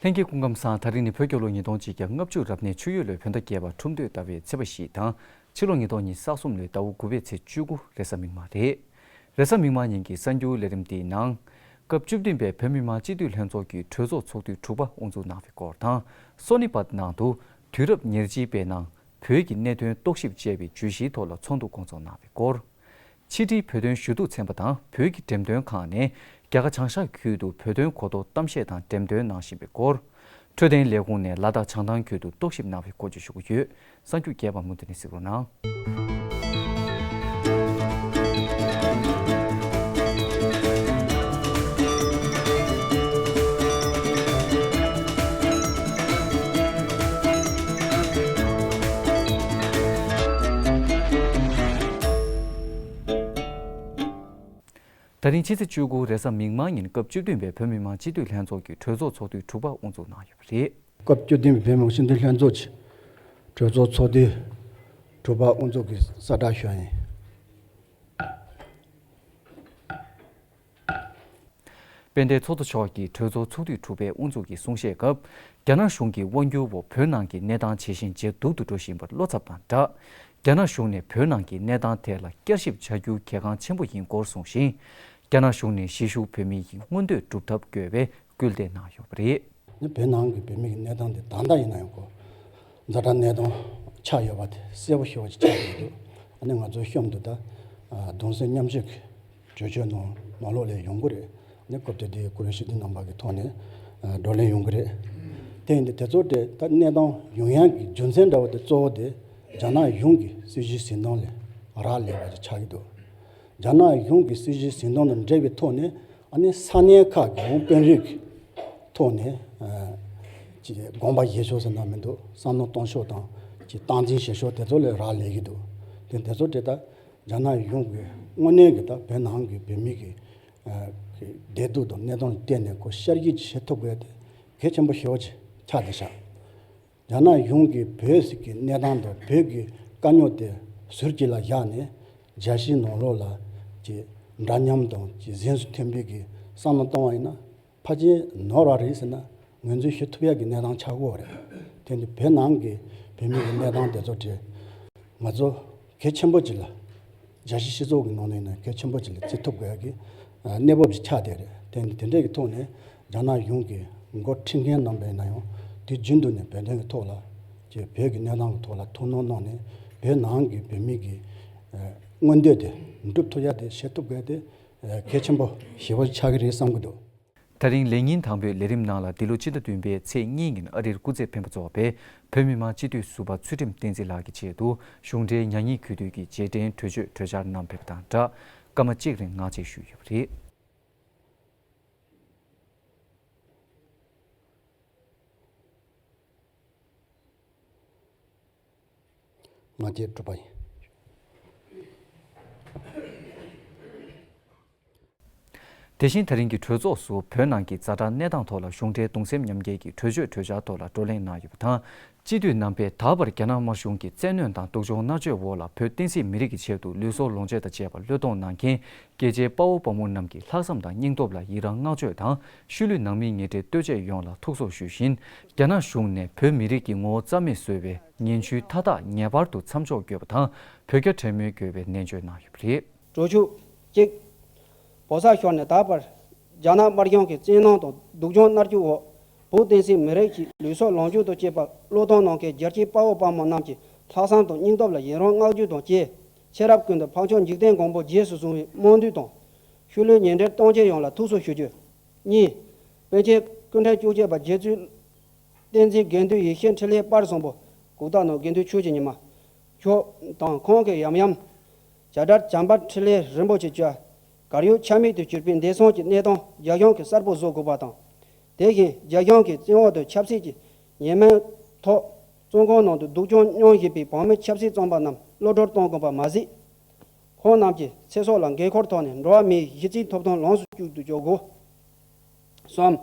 ལྷན་སྐྱེས་སྐུ་ཁམས་སང་ད་རིང་ནི་བོད་སྐྱོར་ལོ་ཉིས་སྟོང་གཅིག་གྱ་ལྔ་བཅུ་རབ་གནས་ཆུ་ཡོས་ལོའི་བོད་ཟླ་བརྒྱད་པ་ཁྲུམས་སྟོད་ཟླ་བའི་ཚེས་པ་བཞི་དང་ཕྱི་ལོ་ཉིས་སྟོང་ཉིས་ས་གསུམ་ལོའི་ཟླ་བོ་དགུ་བའི་ཚེས་བཅུ་དགུ་རེ་ས་མིག་མ་རེད། རེ་ས་མིག་མ་ཉིན་གྱི་གསར་འགྱུར་ལས་རིམ་དེའི་ནང། སྐབས་བཅུ་བདུན་པའི་བོད་མི་མང་སྤྱི་འཐུས་ལྷན་ཚོགས་ཀྱི་གྲོས་ཚོགས་ཚོགས་དུས་དྲུག་པ་དབུ་འཛུགས་གནང་བའི་སྐོར་དང་སོ་ནི་པ་ནང་དུ་དུས་རབས་ཉེར་གཅིག་པའི་ནང་བོད་ཀྱི་གནད་དོན་རྟོག་ཞིབ་ཅེས་པའི་བརྗོད་གཞིའི་ཐོག་ལ་ཚོགས་འདུ་སྐོང་ཚོགས་གནང་བའི་སྐོར། ཕྱི་དྲིལ་བོད་དོན་ཞུ་གཏུག་ཚན་པ་དང་བོད་ཀྱི་འགྲེམས་སྟོན་ཁང་ནས་རྒྱ་གར་བྱང་ཤར་ཁུལ་དུ་བོད་དོན་གོ་རྟོགས་གཏམ་བཤད་དང་འགྲེམས་སྟོན་གནང་བཞིན་པའི་སྐོར། འཕྲོད་བསྟེན་ལས་ཁུངས་ནས་ལ་དྭགས་བྱང་ཐང་ཁུལ་དུ་རྟོག་ཞིབ་གནང་བའི་སྐོར་བཅས་ཞུ་གི་ཡོད། གསར་འགྱུར་རྒྱས་པར་མུ་མཐུད་ནས་གཟིགས་རོགས་གནང། ད་རིང་ཕྱི་ཚེས་བཅུ་དགུ་རེས་གཟའ་མིག་དམར་ཉིན་སྐབས་བཅུ་བདུན་པའི་བོད་མི་མང་སྤྱི་འཐུས་ལྷན་ཚོགས་ཀྱི་གྲོས་ཚོགས་ཚོགས་དུས་དྲུག་པ་དབུ་འཛུགས་གནང་ཡོད་པ་རེད། སྐབས་བཅུ་བདུན་པའི་བོད་མང་སྤྱི་འཐུས་ལྷན་ཚོགས་ཀྱི་གྲོས་ཚོགས་ཚོགས་དུས་དྲུག་པ་དབུ་འཛུགས་ཀྱི་གསལ་བསྒྲགས་ཞུ་བ་ཡིན། དཔལ་ལྡན་ཚོགས་གཙོ་མཆོག་གིས་གྲོས་ཚོགས་ཚོགས་དུས་དྲུག་པའི་དབུ་འཛུགས་ཀྱི་གསུང་བཤད་སྐབས། རྒྱ་ནག་གཞུང་གི་དབང་སྒྱུར་འོག་བོད་ནང་གི་གནས་སྟངས་ཇེ་ཞན་ཇེ་སྡུག་ཏུ་འགྲོ་བཞིན་པར་བློ་འཚབ་དང་སྦྲགས། རྒྱ་ནག་གཞུང་ནས་བོད་ནང་གི་གནས་སྟངས་ཐད་ལ་བསྐྱར་ཞིབ་བྱ་རྒྱུ་གལ་འགངས་ཆེན་པོ་ཡིན་སྐོར་གསུངས་ཤིང། རྒྱ་ནག་གཞུང་ནས་གཞིས་བཞུགས་བོད་མི་ཡི་མངོན་འདོད་སྒྲུབ་ཐབས་དགོས་པའི་སྐུལ་འདེད་གནང་ཡོད་པ་རེད། ནི་བོད་ནང་གི་བོད་མི་གི་གནས་སྟངས་དེ་གང་འདྲ་ཡིན་ན་ཡང་གོ། འཛའ་དྲག་གནད་དོན་ཆགས་ཡོད་པ་དེ་གསལ་པོ་ཤོར་བ་ཅིག་ཆགས་ཡོད་འདུག་ཨ་ནི་ང་ཚོའི་གཤོམ་དུ་ད་དུང་གསོན་ཉམས་ཤིག། བརྗོད་བྱའི་ནང་མ་ལོག་ལས་ཡོང་གི་རེད། ནས་སྐབས་དེ་དུས་ཀུ་རེ་ཤི་ཏི་རྣམ་པ་གི་ཐོག་ནས་བགྲོ་གླེང་ཡོང་གི་རེད། དེ་ཡིན་དུས་དེ་ཚོ་དེ་ལྟར་གནས་སྟངས་ཡོང་ཡང་གི་རྒྱུ་མཚན་འདྲ་བོ་དེ་གཙོ་བོ་དེ་རྒྱ་ནག་གཞུང་གི་སྲིད་གཞིའི་གཟིགས་མདངས་ལས་རག་ལས་པ་ཞིག་ཆགས་ཀྱི་འདུག་རྒྱ་ནག་གཞུང་གི་སྲིད་གཞིའི་གཟིགས་མདངས་དང་འབྲེལ་བའི་ཐོག་ནས་ཨ་ནི་ས་གནས་ཁག་གི་བོང་དཔོན་རིགས་ཀྱི་ཐོག་ནས་ཀྱི་དགོངས་པ་བཞེས་ཕྱོགས་སུ་གནང་མི་འདུག་བསམ་བློ་གཏོང་ཕྱོགས་དང་ཀྱི་སྟངས་འཛིན་བྱེད་ཕྱོགས་དེ་ཚོ་ལས་རག་ལས་ཀྱི་འདུག་དེ་དེ་ཚོ་དེ་ལྟར། རྒྱ་ནག་གཞུང་གིས་དངོས་གནས་ཀྱི་དང་བོད་ནང་གི་བོད་མི་གི་བདེ་སྡུག་དང་གནས་སྟངས་ལ་བལྟས་ནས་གོ་གཤར་གྱིས་བྱེད་ཐུབ་དགོས་ཏེ་གལ་ཆེན་པོ་ཞེ་བོ་ཆེ་ཆགས་ཏེ་བཞག། རྒྱ་ནག་གཞུང་གིས་བོད་ཟིག་གི་གནས་སྟངས་དང་བོད་ཀྱི་དཀའ་རྙོག་དེ་ཟུར་གྱི་ལ་བཞག་ནས་རྒྱ་གཞིས་ནང་ལོག་ལ་གྱི་འདྲ་མཉམ་དང་གྱི་གཟེངས་སུ་ཐོན་འབུལ་གྱི་བསམ་བློ་གཏོང་བ་ཡིན་ན་ཕ་ཅིང་ནོར་བ་རེད་ཟེར་ན་ངོས་འཛིན་ཞུ་ཐུབ་ཡག་གི་གནས་སྟངས་ཆགས་གོ་རེད། དེ་ནི་བོད་ནང་གི་བོད་མི་ཡི་གནས་སྟངས་དེ་ཚོ་རེད། ང་ཚོ་གལ་ཆེན་པོ་ཅིག་ལ། རྒྱ་ཆེ་སྤྱི་ཚོགས་ཀྱི་ནང་ནས་ནས་གལ་ཆེན་པོ་ཅིག་ལ་བརྩི་ཐུབ་དགོས་ཡག་གི་གནས་བབ་ཅིག་ཆགས་བསྡད་རེད། དེ་ནི་དེ་འདྲས་ཀྱི་ཐོག་ནས་རྒྱ་ནག་གཞུང་གི་མགོ་འཁྲིད་མཁན་རྣམས་པས་ན་ཡང་དུས་རྒྱུན་དུ་ནས་བོད་དོན་གྱི་ཐོག་ལ། ཀྱི་བོད་ཀྱི་གནས་སྟངས་ཀྱི་ཐོག་ལ་ཐུགས་སྣང་གནང་ནས་བོད་ནང་གི་བོད་མི་གྱི་མངོན་འདོད་དེ་འགྲུབ་ཐུབ་ཡག་དེ་བྱེད་ཐུབ་དགོས་ཏེ་གལ་ཆེན་པོ་ཞེ་བོ་ཆགས་ཀྱི་རེད་བསམ་གྱི་འདུག། ཐག་རིང་ལས་ཉིན་དང་པོའི་ལས་རིམ་ནང་ལ་འདི་ལོ་སྤྱི་ཟླ་བདུན་པའི་ཚེས་གཉིས་ཉིན་ཨ་རིར་སྐུ་ཚེ་འཕེན་པ་གཙོ་བ་བའི་བོད་མི་མང་སྤྱི་འཐུས་ཟུར་པ་ཚུལ་ཁྲིམས་བསྟན་འཛིན་ལགས་ཀྱི་ཆེད་དུ་གཞུང་འབྲེལ་ཉག་ཉིག་གུས་འདུད་ཀྱི་རྗེས་དྲན་གྲོས་ཆོད་གྲོས་འཆར་གནང་ཕེབས་པ་དང་སྦྲགས་སྐར་མ་གཅིག་རིང་ངག་བཅད་ཞུས་ཡོད་པ་རེད། ང་རྒྱལ་སྒྲུབ་པ་ཡིན། དེ་བཞིན་ད་རིང་གི་གྲོས་ཚོགས་སུ་བོད་ནང་གི་རྩ་དྲང་གནས་སྟངས་ཐོག་ལ་གཞུང་འབྲེལ་གདུང་སེམས་མཉམ་སྐྱེལ་གྱི་གྲོས་ཆོད་གྲོས་འཆར་ཐོག་ལ་བགྲོ་གླེང་གནང་ཡོད་པ་དང། སྤྱི་འཐུས་རྣམ་པས་ད་བར་རྒྱ་ནག་དམར་གཞུང་གི་བཙན་གནོན་དང་སྡུག་སྦྱོང་མནར་གཅོད་འོག་ལ་བོད་བསྟན་སྲིད་མི་རིགས་ཀྱི་ཆེད་དུ་ལུས་སྲོག་ལོངས་སྤྱོད་དང་བཅས་པ་བློས་གཏོང་གནང་མཁན་སྐྱེས་ཆེན་དཔའ་བོ་དཔའ་མོ་རྣམས་ཀྱི་ལྷག་བསམ་དང་སྙིང་སྟོབས་ལ་ཡི་རང་བསྔགས་བརྗོད་དང་ཤུལ་ལུས་ནང་མིའི་ཉེ་འབྲེལ་ལྟོས་བཅས་ཡོངས་ལ་ཐུགས་གསོ་ཞུ་བཞིན། རྒྱ་ནག་གཞུང་ནས་བོད་མི་རིགས་ཀྱི་ངོ་བོ་རྩ་མེད་བཟོ་བའི་ངན་བྱུས་མཐའ་དག་ངེས་པར་དུ་མཚམས་འཇོག་དགོས་པ་དང་བོད་རྒྱ་བྲལ་མོལ་དགོས་པའི་ནན་བརྗོད་གནང་ཡོད་པ་རེད། འགྲོ་ཆུག་ཅིག། བོད་ས་ཤོར་ནས་ད་བར། རྒྱ་ནག་དམར་གཞུང་གི་བཙན་གནོན་དང་སྡུག་སྦྱོང་མནར་གཅོད་འོག་བོད་བསྟན་སྲིད་མི་རིགས་ཀྱི་ལུས་སྲོག་ལོངས་སྤྱོད་དུ་བསྐྱེད་པ་བློས་གཏོང་གནང་མཁན་རྒྱལ་གཅེས་དཔའ་བོ་དཔའ་མོ་རྣམས་ཀྱི་ལྷག་བསམ་དང་སྙིང་སྟོབས་ལ་ཡི་རང་བསྔགས་བརྗོད་དང་བཅས་ཕྱི་རབས་ཀུན་ཏུ་འཕགས་མཆོག་འཇིག་རྟེན་མགོན་པོ་རྗེས་སུ་བཟུང་བའི་སྨོན་འདུན་དང། ཤུལ་ལུས་ཉེ་འབྲེལ་སྟོང་ཆེན་ཡོངས་ལ་ཐུགས་གསོ་ཞུ་རྒྱུ། གཉིས། དཔོན་ཆེན་ཀུན་ཕྲན་བཅུ་གཅིག་པ་རྗེ་བཙུན། བསྟན་འཛིན་དགེ་འདུན་ཡེ་ཤེས་འཕྲིན་ལས་པར་བཟང་པོ། གུག་རྟ་ནོར་དགེ་འདུན་ཆོས་ཀྱི་ཉི་མ། མཆོག། དང་ཁོང་གི་ཡམ་ཡམ། བྱ་བྲལ་བྱམས་པ་འཕྲིན་ལས་རིན་པོ་ཆེ་བཅུ། གར་ཡུལ་ཆ་མིག་ཏུ་གྱུར་པའི་འདས་སོང་གྱི་གནས་སྟོང་རྒྱ་གཞུང་གི་གསར་བུ་བཟོ་དགོས་པ་དང། དེ་བཞིན་རྒྱ་གཞུང་གི་བཙན་འོག་ཏུ་ཆབ་སྲིད་ཀྱི་ཉེས་མིང་ཐོག། བཙོན་ཁང་ནང་དུ་སྡུག་གྱོང་མྱོང་བཞིན་པའི་བང་མི་ཆབ་སྲིད་བཙོན་པ་རྣམས་གློད་གྲོལ་གཏོང་དགོས་པ་མ་ཟད། ཁོང་རྣམས་ཀྱི་ཚེ་སྲོག་ལ་འགན་འཁུར་ཐོག་ནས་འགྲོ་བ་མིའི་གཞི་རྩའི་ཐོབ་ཐང་ལོངས་སུ་སྤྱོད་དུ་འཇོག་དགོས། གསུམ།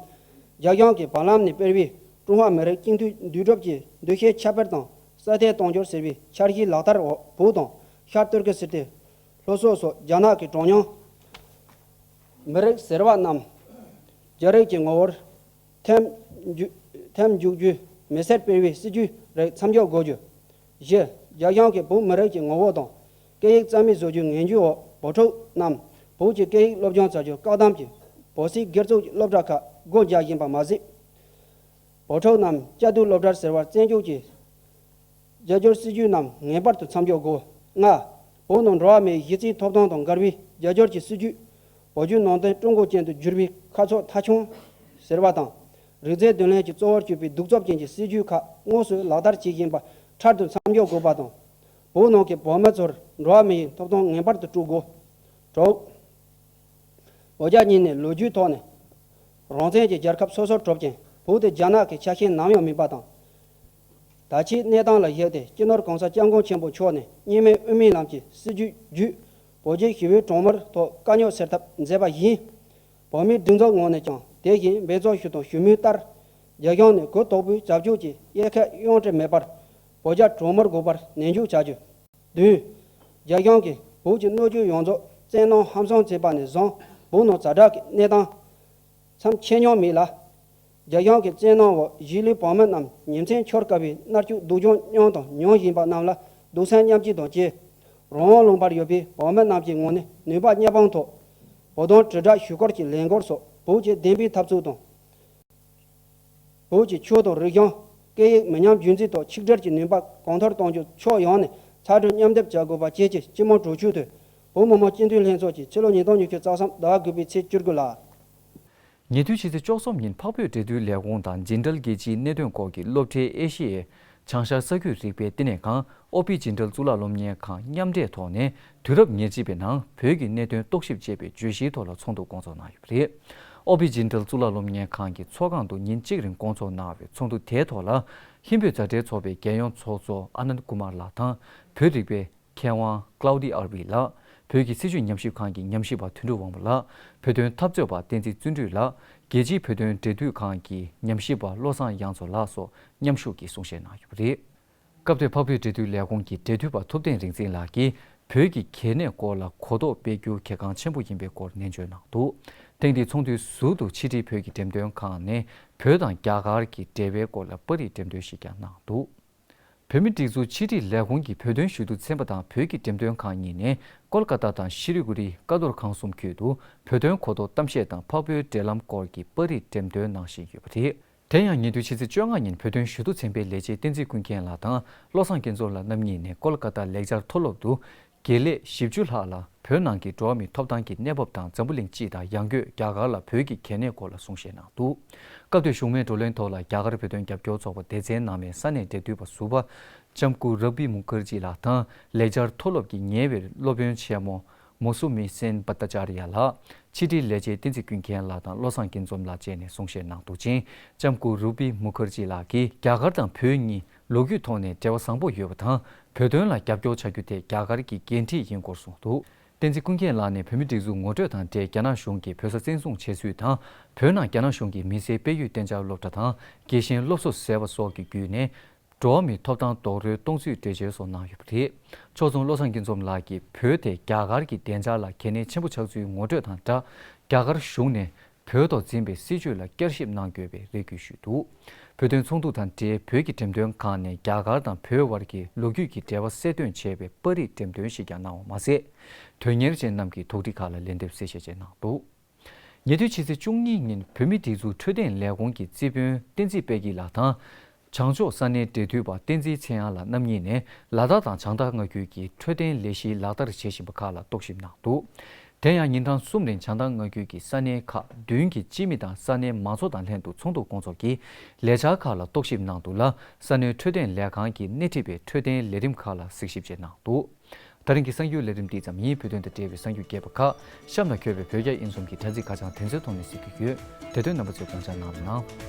རྒྱ་གཞུང་གིས་བར་ལམ་ནས་སྤེལ་བའི་ཀྲུང་ཧྭ་མི་རིགས་གཅིག་མཐུན་འདུས་གྲུབ་ཀྱི་འདུ་ཤེས་ཁྱབ་སྤེལ་དང་སྲ་བརྟན་གཏོང་རྒྱུ་ཟེར་བའི་འཆར་གཞིའི་ལག་བསྟར་འོག་བོད་དང་ཤར་ཏུར་ཀི་སི་ཐན། ལྷོ་སོག་སོགས་རྒྱ་ནག་གི་གྲངས་ཉུང་མི་རིགས་ཟེར་བ་རྣམས་རྒྱ་རིགས་ཀྱི་ངོ་བོར་ཐེམ་འཇུག་རྒྱུའི་མི་སེར་སྤེལ་བའི་སྲིད་ཇུས་རིགས་མཚམས་འཇོག་དགོས་རྒྱུ། བཞི། རྒྱ་གཞུང་གིས་བོད་མི་རིགས་ཀྱི་ངོ་བོ་དང་སྐད་ཡིག་རྩ་མེད་བཟོ་རྒྱུའི་ངན་བྱུས་འོག་བོད་ཕྲུག་རྣམས་བོད་ཀྱི་སྐད་ཡིག་སློབ་སྦྱོང་བྱ་རྒྱུར་བཀག་བསྡམས་ཀྱིས་བོད་སིལ་སྒེར་བཙུགས་ཀྱི་སློབ་གྲྭ་ཁག་སྒོ་རྒྱག་བཞིན་པ་མ་ཟད། བོད་ཕྲུག་རྣམས་བཅའ་སྡོད་སློབ་གྲྭར་ཟེར་བར་བཙན་བསྐྱོད་ཀྱིས་རྒྱལ་སྐྱོར་སྲིད་ཇུས་རྣམས་ངེས་པར་དུ་མཚམས་འཇོག་དགོས། ལྔ། བོད་ནང་འགྲོ་བ་མིའི་གཞི་རྩའི་ཐོབ་ཐང་དང་མགར་བའི་རྒྱལ་སྐྱོར་གྱི་སྲིད་ཇུས། བོད་བརྒྱུད་ནང་བསྟན་ཀྲུང་གོ་ཅན་དུ་བསྒྱུར་བའི་ཁ་ཕྱོགས་མཐའ་འཁྱོངས། ཟེར་བ་དང། རིག་རྩལ་འདོན་ལེན་གྱི་གཙོ་བོར་གྱུར་པའི་གདུག་རྩུབ་ཅན་གྱི་སྲིད་ཇུས་ཁག་དངོས་སུ་ལག་བསྟར་བྱེད་བཞིན་པ་འཕྲལ་དུ་མཚམས་འཇོག་དགོས་པ་དང། བོད་ནང་གི་བོད་མི་ཚོར་འགྲོ་བ་མི་ཡི་ཐོབ་ཐང་ངེས་པར་དུ་སྤྲོད་དགོས། དྲུག། བོད་རྒྱ་གཉིས་ནས་ལོ་རྒྱུས་ཐོག་ནས་རང་བཙན་གྱི་རྒྱལ་ཁབ་སོ་སོར་གྲུབ་ཀྱང་བོད་དེ་རྒྱ་ནག་གི་ཆ་ཤས་ནམ་ཡང་མིན་པ་དང། ད་ཆའི་གནས་སྟངས་ལ་གཞིགས་ཏེ་སྤྱི་ནོར་གང་ས ྋསྐྱབས་མགོན་ཆེན་པོ་མཆོག་ནས་གཉིས་མེད་དབུ་མའི་ལམ་གྱི་སྲིད་ཇུས་བརྒྱུད། བོད་རྒྱའི་ཞི་བའི་གྲོང་མོར་ཐོག་དཀའ་རྙོག་སེལ་ཐབས་མཛད་པ་བཞིན། བོད་མིའི་སྒྲིག་འཛུགས་ངོས་ནས་ཀྱང་དེ་བཞིན་འབད་བརྩོན་ཞུས་དང་ཞུ་མུས་ལྟར། རྒྱ་གཞུང་ནས་གུ་དོག་པོའི་བྱབ་ཆུང་གྱི་དབྱེ་ཁས་དབྱུང་ཁྲལ་མེད་པར་བོད་རྒྱ་གྲོས་མོལ་དགོས་པར་ནན་འཇུག་བྱ་རྒྱུ། བདུན། རྒྱ་གཞུང་གིས་བོད་ཀྱི་གནོད་སྐྱོན་ཡོངས་རྫོགས་བཙན་གནོན་ཧམ་སང་བྱས་པ་ནས་བཟུང་བོད་ནང་ཛ་དྲག་གི་གནས་སྟངས་མཚམས་ཆད་མྱོང་མེད་ལ། རྒྱ་གཞུང་གི་བཙན་གནོན་འོག་གཞིས་ལུས་བོད་མི་རྣམས་ཉིན་མཚན་འཁྱོར་དཀའ་བའི་མནར་གཅོད་སྡུག་སྦྱོང་མྱོང་དང་མྱོང་བཞིན་པ་རྣམས་ལ་སྡུག་བསལ་མཉམ་བསྐྱེད་དང་བཅས། རང་དབང་ལུང་པར་ཡོད་པའི་བོད་མི་རྣམས་ཀྱི་ངོས་ནས་ནུས་པ་དམྱལ་འཕང་ཐོག་བོད་དོན་དྲིལ་བསྒྲགས་ཞུ་སྐོར་གྱི་ལས་འགོར་སོགས་བོད་ཀྱི་བདེན་པའི་འཐབ་རྩོད་དང། བོད་ཀྱི་ཆོས་དང་རིག་གཞུང། སྐད་ཡིག་མི་ཉམས་རྒྱུན་འཛིན་ཐོག་ཆིག་སྒྲིལ་གྱི་ནུས་པ་གོང་མཐོར་གཏོང་རྒྱུ་ཕྱོགས་ཡོངས་ནས་ཚ་དྲོད་མཉམ་སྡེབ་བྱ་དགོས་པ་བཅས་ཀྱི་སྤྱི་དམངས་དྲོ་སྐྱིད་དོད། བོད་མི་མང་སྤྱི་འཐུས་ལྷན་ཚོགས་ཀྱི་ཕྱི་ལོ་ཉིས་སྟོང་ཉི་ཤུ་རྩ་གསུམ་ཟླ་དགུ་པའི་ཚེས་བཅུ་དགུ་ལ། ཉེ་དུས་ཕྱི་ཚེས་བཅུ་གསུམ་ཉིན་འཕགས་བོད་འབྲེལ་མཐུད་ལས་ཁུངས་དང་ཇི་འདྲལ་རྒྱལ་སྤྱིའི་གནད་དོན་སྐོར་གྱི་སློབ་གྲྭའི་ཨེ་ཤེ་ཡའི་བྱང་ཤར་ས་ཁུལ་རིག་པའི་བསྟི་གནས་ཁང་ཨོ་པི་ཇི་འདྲལ་གཙུག་ལག་སློབ་གཉེར་ཁང་མཉམ་འབྲེལ་ཐོག་ནས་དུས་རབས་ཉེར་གཅིག་པའི་ནང་བོད་ཀྱི་གནད་དོན་རྟོག་ཞིབ་ཅེས་པའི་བརྗོད་གཞིའི་ཐོག་ལ་ཚོགས་འདུ་སྐོང་ཚོགས་གནང་ཡོད་པ་རེད། ཨོ་པི་ཇི་འདྲལ་གཙུག་ལག་སློབ་གཉེར་ཁང་གི་ཚོགས་ཁང་དུ་ཉིན་གཅིག་རིང་སྐོང་ཚོགས་གནང་བའི་ཚོགས་འདུ་དེའི་ཐོག་ལ་ཧིན་བོད་མཛའ་འབྲེལ་ཚོགས་པའི་རྒྱལ་ཡོངས་ཚོགས་གཙོ་ཨ་ནནྡ་ཀུ་མཱར་ལགས་དང་བོད་རིག་པའི་མཁས་དབང Claude Arby ལགས་བོད་ཀྱི་སྲིད་བྱུས་ཉམས་ཞིབ་ཁང་གི་ཉམས་ཞིབ་པ་དོན་གྲུབ་དབང་པོ་ལགས་བོད་དོན་འཐབ་རྩོད་པ་བསྟན་འཛིན་བརྩོན་འགྲུས་ལགས་རྒྱལ་སྤྱིའི་བོད་དོན་འབྲེལ་མཐུད་ཁང་གི་ཉམས་ཞིབ་པ་བློ་བཟང་དབྱངས་མཚོ་ལགས་སོགས་མཉམ་ཞུགས་ཀྱིས་གསུང་བཤད་གནང་ཡོད་པ་རེད། སྐབས་དེར་འཕགས་བོད་འབྲེལ་མཐུད་ལས་ཁུངས་ཀྱི་འབྲེལ་མཐུད་པ་ཐུབ་བསྟན་རིག་འཛིན་ལགས་ཀྱིས་བོད་ཀྱི་གལ་གནད་སྐོར་ལ་གོ་རྟོགས་སྤེལ་རྒྱུ་གལ་འགངས་ཆེན་པོ་ཡིན་པའི་སྐོར་ནན་བརྗོད་གནང་འདུག་ཐེངས་འདིའི་ཚོགས་འདུའི་ཟུར་དུ་ཕྱི་དྲིལ་བོད་ཀྱི་འགྲེམས་སྟོན་ཁང་ནས་བོད་དང་རྒྱ་གར་གྱི་འབྲེལ་བའི་སྐོར་ལ་པར་རིས་འགྲེམས་སྟོན་ཞིག་ཀྱང་གནང་འདུག། བོད་མི་སྒྲིག་འཛུགས་ཕྱི་དྲིལ་ལས་ཁུངས་ཀྱི་བོད་དོན་ཞུ་གཏུག་ཚན་པ་དང་བོད་ཀྱི་འགྲེམས་སྟོན་ཁང་གཉིས་ནས་ཀོལ་ཀ་ཏཱ་དང་ཤི་ལི་གུ་རི་ཀ་རྡོར་ཁང་གསུམ་ཁུལ་དུ་བོད་དོན་གོ་རྟོགས་གཏམ་བཤད་དང་འཕགས་བོད་འབྲེལ་ལམ་སྐོར་གྱི་པར་རིས་འགྲེམས་སྟོན་གནང་བཞིན་ཡོད་པ་རེད། དེ་ཡང་ཉེ་དུས་ཕྱི་ཚེས་བཅོ་ལྔ་ཉིན་བོད་དོན་ཞུ་གཏུག་ཚན་པའི་ལས་བྱེད་བསྟན་འཛིན་ཀུན་མཁྱེན་ལགས་དང་བློ་བཟང་སྐལ་རྫོགས་ལགས་རྣམ་གཉིས་ནས་ཀོལ་ཀ་ཏཱ་ལེགས་སྦྱར་མཐོ་སློབ་ཏུ་དགེ་ལས་བཞི་བཅུ་ལྷག་ལ་བོད་ནང་གི་འགྲོ་བ་མིའི་ཐོབ་ཐང་གི་གནས་བབ་དང་འཛམ་བུ་གླིང་སྤྱི་དང་ཡང་སྒོས་རྒྱ་གར་ལ་བོད་ཀྱི་གལ་གནད་སྐོར་ལ་གསུང་བཤད་གནང་འདུག་སྐབས་དེར་བཞུགས་མའི་བགྲོ་གླེང་ཐོག་ལ་རྒྱ་གར་བོད་དོན་རྒྱབ་སྐྱོར་ཚོགས་པ་སྡེ་ཚན་ནང་མའི་ས་གནས་འབྲེལ་མཐུད་པ་ཟུར་པ་ལྕམ་སྐུ་རབ་བྷི་མུ་ཁར་རྗི་ལགས་དང་ལེགས་སྦྱར་མཐོ་སློབ་ཀྱི་ཉེ་བའི་སློབ་དཔོན་ཆེན་མོ་མོ་སུ་མི་སེན་བྷ་ཏ་ཅཱ་རི་ཡ་ལགས་ཕྱི་དྲིལ་ལས་བྱེད་བསྟན་འཛིན་ཀུན་མཁྱེན་ལགས་དང་བློ་བཟང་དགེ་འཛོམས་ལགས་བཅས་ནས་གསུང་བཤད་གནང་འདུག་ཅིང་ལྕམ་སྐུ་རུབ་བྷི་མུ་ཁར་རྗི་ལགས་ཀྱིས་རྒྱ་གར་དང་བོད་གཉིས་ལོ་རྒྱུས་ཐོག་ནས་འབྲེལ་བ་བཟང་པོ་ཡོད་པ་དང་བོད་དོན་ལ་རྒྱབ་སྐྱོར་བྱ་རྒྱུ་དེ་རྒྱ་གར་གྱི་འགན་འཁྲི་ཡིན་སྐོར་གསུངས་འདུག་བསྟན་འཛིན་ཀུན་མཁྱེན་ལགས་ནས་བོད་མི་སྒྲིག་འཛུགས་ངོ་སྤྲོད་དང་འབྲེལ་རྒྱ་ནག་གཞུང་གིས་བོད་ས་བཙན་བཟུང་བྱས་ཚུལ་དང་བོད་ནང་རྒྱ་ནག་གཞུང་གིས་མི་སེར་སྤེལ་ཡུལ་གཏན་འཇགས་སློབ་གྲྭ་དང་རྒྱལ་ཞེན་སློབ་གསོ་ཟེར་བ་སོགས་ཀྱི་བརྒྱུད་ནས་འགྲོ་བ་མིའི་ཐོབ་ཐང་རྡོག་རོལ་གཏོང་ཚུལ་འགྲེལ་བརྗོད་སོགས་གནང་ཡོད་པ་རེད། ཕྱོགས་མཚུངས་བློ་བཟང་སྐྱིད་འཛོམས་ལགས་ཀྱིས་བོད་དེ་རྒྱ་གར་གྱི་བདེ་འཇགས་ལ་གལ་གནད་ཆེན་པོ་ཆགས་ཚུལ་ངོ་སྤྲོད་དང་སྦྲགས་རྒྱ་གར་གཞུང་ནས་བོད་ཐོག་འཛིན་པའི་སྲིད་བྱུས་ལ་བསྐྱར་ཞིབ་གནང་དགོས་པའི་རེ་སྐུལ་ཞུས་འདུག་བོད་དོན་ཚོགས་འདུ་དང་འབྲེལ་བོད་ཀྱི་འགྲེམས་སྟོན་ཁང་ནས་རྒྱ་གར་དང་བོད་བར་གྱི་ལོ་རྒྱུས་ཀྱི་འབྲེལ་བ་གསལ་སྟོན་བྱས་པའི་པར་རིས་འགྲེམས་སྟོན་ཞིག་ཀྱང་གནང་བ་མ་ཟད། དོན་གཉེར་ཅན་རྣམས་ཀྱི་དོགས་འདྲི་ཁག་ལ་ལན་འདེབས་གསལ་བཤད་བཅས་གནང་འདུག་ཉེ་དུས་ཕྱི་ཚེས་བཅུ་གཉིས་ཉིན་བོད་མི་སྒྲིག་འཛུགས་འཕྲོད་བསྟེན་ལས་ཁུངས་ཀྱི་རྩིས་དཔོན་བསྟན་འཛིན་དཔལ་སྐྱིད་ལགས་དང། བྱང་ཕྱོགས་ས་གནས་འབྲེལ་མཐུད་པ་བསྟན་འཛིན་ཚེ་དབྱངས་ལགས་རྣམ་གཉིས་ནས་ལ་དྭགས་དང་བྱང་ཐང་སྔ་རྒྱུད་ཀྱི་འཕྲོད་བསྟེན་ལས་གཞི་ལག་བསྟར་བྱེད་བཞིན་པ་ཁག་ལ་རྟོག་ཞིབ་གནང་འདུག་དེ་ཡང་ཉིན་གྲངས་གསུམ་རིང་བྱང་ཐང་སྔ་རྒྱུད་ཀྱི་ས་གནས་ཁག་བདུན་གྱི་སྤྱི་མི་དང་ས་གནས་མང་ཚོགས་དང་ལྷན་དུ་ཚོགས་འདུ་སྐོང་ཚོགས་ཀྱིས་ལས་འཆར་ཁག་ལ་རྟོག་ཞིབ་གནང་འདུག་ལ་ས་གནས་འཕྲོད་བསྟེན་ལས་ཁང་གི་སྣེ་ཁྲིད་པས་འཕྲོད་བསྟེན་ལས་རིམ་ཁག་ལ་གཟིགས་ཞིབ་བྱས་གནང་འདུག་ད་རིང་གི་གསང་རྒྱུད་ལས་རིམ་འདི་ཙམ་ཡིན་བོད་དོན་དང་འབྲེལ་བའི་གསང་རྒྱུད་རྒྱས་པ་ཁག་གཤམ་ལ་འཁྱོལ་བའི་བོད་རྒྱ་དབྱིན་གསུམ་གྱི་དྲ་ཚིགས་ཁ་བྱང་དེ་ཚོའི་ཐོག་ནས་གཟིགས་རྒྱུ་ཡོད་དེ་དོན་རྣམ་པ་ཚོའི་དགོངས་འཆར་གནང་རོགས་གནང།